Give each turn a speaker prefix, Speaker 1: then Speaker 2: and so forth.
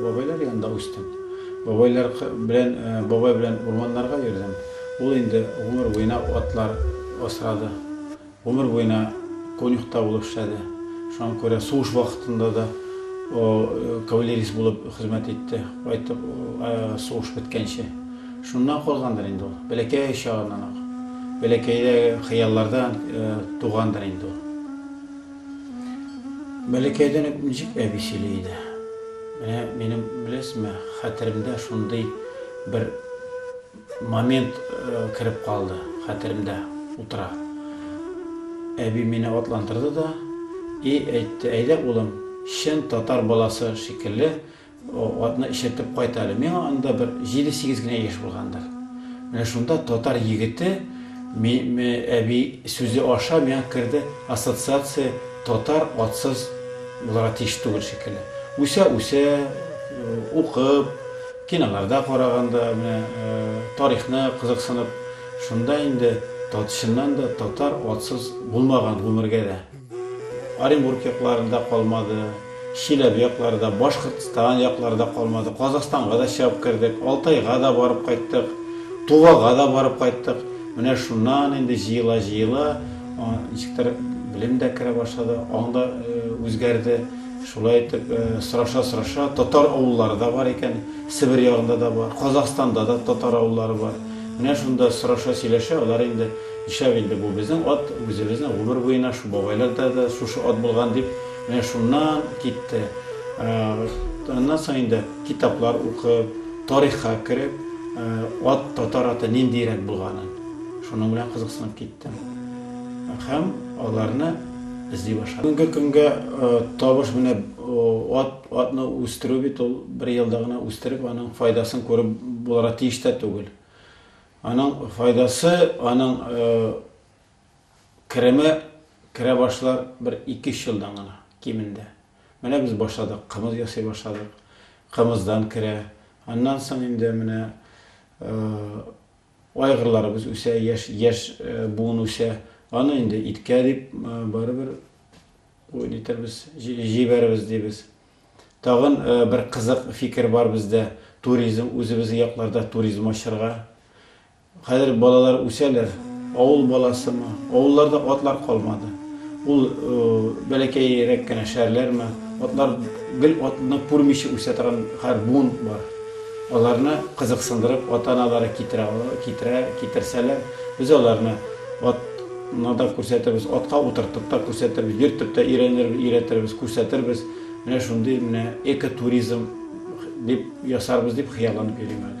Speaker 1: Бабайлар янында үстем. Бабайлар белән, бабай белән урманнарга йөрдем. Ул инде гомер буена атлар асрады. Гомер буена конюхта булып эшләде. Шуңа күрә сугыш вакытында да кавалерист булып хезмәт итте, кайтып сугыш беткәнче. Шуннан калгандыр инде ул. Бәләкәй чагыннан ук. Бәләкәйдәге хыяллардан тугандыр инде ул. Бәләкәйдән үк ничек әби сөйли иде. Менә минем, беләсезме, хәтеремдә шундый бер момент кереп калды, хәтеремдә утыра. Әби мине атландырды да и әйтте, Әйдә, улым, чын татар баласы шикелле, Атны эчертеп кайт әле. Миңа анда бер җиде-сигез генә яшь булгандыр. Менә шунда татар егете әби сүзе аша миңа керде ассоциация татар атсыз булырга тиеш түгел шикелле. Үсә-үсә, укып, киноларда караганда, менә тарихны кызыксынып, шунда инде чыннан да татар атсыз булмаган гомергә дә. Оренбург яклары да калмады, Чиләбе яклары да, Башкортстан яклары да калмады. Казахстанга да чыгып кердек, Алтайга да барып кайттык, Тувага да барып кайттык. Менә шуннан инде җыела-җыела, ничектер белем дә керә башлады, аң да үзгәрде. Шулай итеп, сораша-сораша, татар авыллары да бар икән, Себер ягында да бар, Казахстанда да татар авыллары бар. Менә шунда сораша-сөйләшә, алар инде Нишләп инде бу безнең ат үзебезнең гомер буена шу бабайларда да шушы ат булган дип, менә шуннан китте. Аннан соң инде китаплар укып, тарихка кереп, ат, татар аты ниндиерәк булганын, шуның белән кызыксынып киттем. Һәм аларны эзли башладым. Бүгенге көнгә табыш менә ат, атны үстерү бит ул бер елда гына үстереп, аның файдасын күреп булырга тиеш тә түгел. Аның файдасы, аның кереме керә башлар бер ике-өч елдан гына, кимендә. Менә без башладык, кымыз ясый башладык. Кымыздан керә. Аннан соң инде менә айгырларыбыз үсә, яшь, яшь буын үсә. Аны инде иткә дип барыбер, җибәрербез дибез. Тагын бер кызык фикер бар бездә, туризм, үзебезнең якларда туризм ачырга. Хәзер балалар үсәләр, авыл баласымы, авылларда атлар калмады. Ул бәләкәйрәк кенә шәһәрләрме, атлар гел атны күрмичә үсә торган хәр буын бар. Аларны кызыксындырып, ата-аналары китерә, китерсәләр, без аларны ат Ны да күрсәтербез, атка утыртып та күрсәтербез, йөртеп тә өйрәнербез, өйрәтербез, күрсәтербез. Менә шундый менә экотуризм дип ясарбыз дип хыялланып йөрим әле.